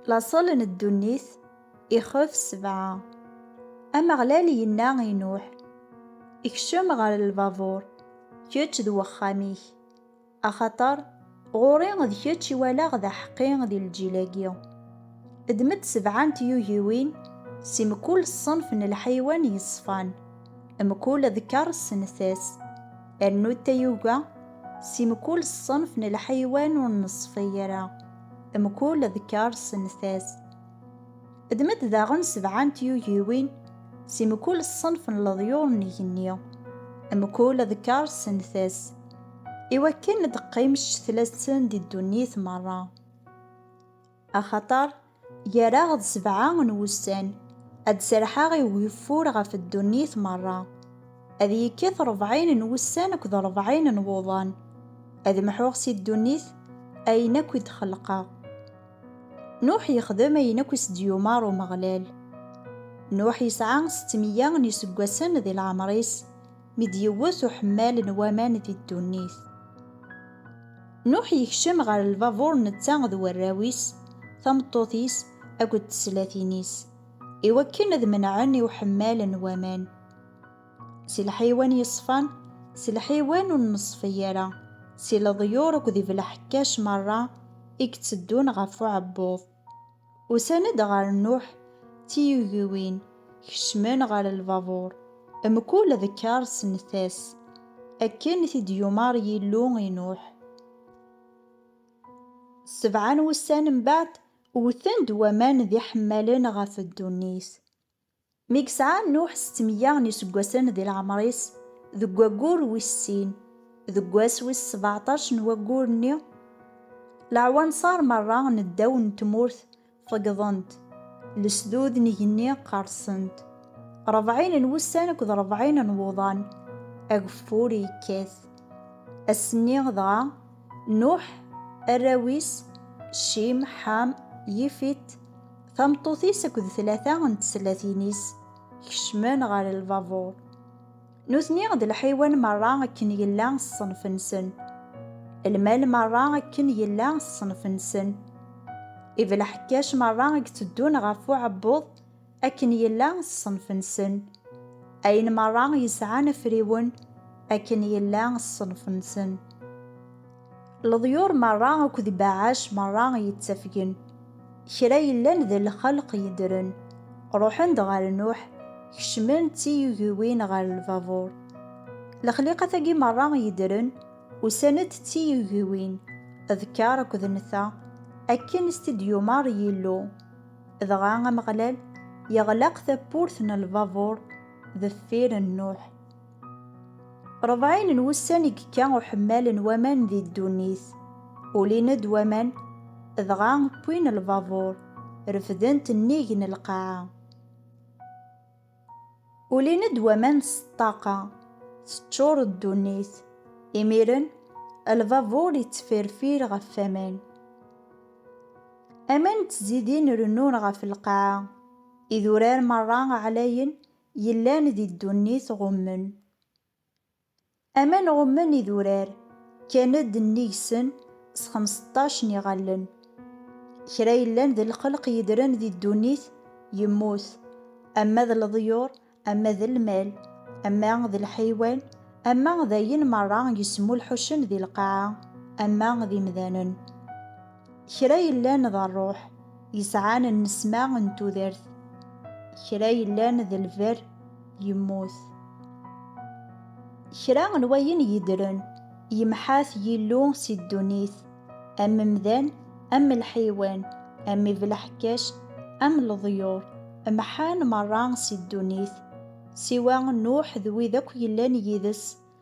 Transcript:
Laṣel n ddunit, ixef sebɛa. Ameɣlal yenna i Nuḥ, Kcem ɣer lbabuṛ, kečč d wexxam-ik, axaṭer ɣur-i d kečč i walaɣ d aḥeqqi di lǧil-agi. Ddem-d sebɛa n tyugiwin si mkul ṣṣenf n lḥaywan yeṣfan, mkul adekkar s nntas. Rnu tayuga si mkul ṣṣenf n lḥaywan ur neṣfi ara mkul ḍkar s nfas. Ddem-d daɣen sebɛa n tyugiwin si mkul ṣṣenf n leḍyur n igenni mkul ḍkar s nfas, iwakken ad d-teqqim ccetla-nsen di ddunit merra. Axaṭer gar-aɣ-d sebɛa n wussan, ad d-serḥeɣ i ugeffur ɣef ddunit merra. Ad yekkat rebɛin n wussan akked rebɛin n wuḍan, ad mḥuɣ si ddunit ayen akk i d-xelqeɣ. Nuḥ yexdem ayen akk i s-d-yumeṛ Umeɣlal. Nuḥ yesɛa settemya n yiseggasen di leɛmeṛ-is, mi d-yewwet uḥemmal n waman di ddunit. Nuḥ yekcem ɣer lbabuṛ netta d warraw-is, tameṭṭut-is akked teslatin-is, i wakken ad menɛen i uḥemmal n waman, si lḥiwan yeṣfan, s lḥiwan ur neṣfi ara, si leḍyur akked ibelḥekkac meṛṛa i itteddun ɣef uɛebbuḍ. Usan-d ɣer Nuḥ d tiyugiwin, kecmen ɣer lbabuṛ, mkul d kkaṛ s nnfas, akken i t-id-yumaṛ Yillu i Nuḥ. Sebɛa n wussan mbeɛd, wten-d waman d iḥemmalen ɣef ddunit. Mi yesɛa Nuḥ settemya n yiseggasen di leɛmer-is, deg waggur wis sin, deg wass wis sbeɛṭac n waggur-nni, leɛwanṣer merra n ddaw n tmurt feggḍen-t, lesdud n igenni qerrsen-t, rebɛin n wussan akked rebɛin n wuḍan, ageffur yekkat. Ass-nni dɣa. Nuḥ, arraw-is, Cim, Ḥam, Yifit, tameṭṭut-is akked tlata n teslatin-is, kecmen ɣer lbabuṛ. Nutni d lḥiwan meṛṛa akken yella ṣṣenf-nsen, lmal meṛṛa akken yella ṣṣenf-nsen, ibelḥekkac meṛṛa i itteddun ɣef uɛebbuḍ, akken yella ṣṣenf-nsen. Ayen merra yesɛan afriwen, akken yella ṣṣenf-nsen. Leḍyur merra akked ibeɛɛac merra yettafgen. Kra yellan d lxelq yeddren, ruḥen-d ɣer Nuḥ, kecmen d tiyugiwin ɣer lbabuṛ. Lexliqat-agi merra yeddren, usan-d d tiyugiwin, d kker akked nta, akken i s-t-id-yumeṛ Yillu. Dɣa Ameɣlal yeɣlaq tawwurt n lbabuṛ deffir n Nuḥ. Ṛebɛin n wussan i yekka uḥemmal n waman di ddunit. Ulin-d waman, dɣa wwin lbabuṛ, refden-t nnig n lqaɛa. Ulin-d waman s ṭṭaqa, teččur ddunit. Imiren, lbabuṛ ittfirfir ɣef waman. Aman d tzidin rennun ɣef lqaɛa. Idurar meṛṛa ɛlayen yellan di ddunit ɣummen. Aman ɣummen idurar, kkan-d nnig-sen s xemseṭṭac n iɣallen. Kra yellan d lxelq yedren di ddunit yemmut, ama d leḍyur, ama d lmal, ama d lḥeywan, ama d ayen merra yesmulḥucen di lqaɛa, ama d imdanen. Kra yellan d rruḥ, yesɛan nnesma n tudert. Kra yellan d lberr, yemmut. Kra n wayen yeddren, yemḥa-t Yillu si ddunit, am mdan, am lḥiwan, am ibelḥekkac, am leḍyur, mḥan merra si ddunit, siwa Nuḥ d wid akk yellan yid-s,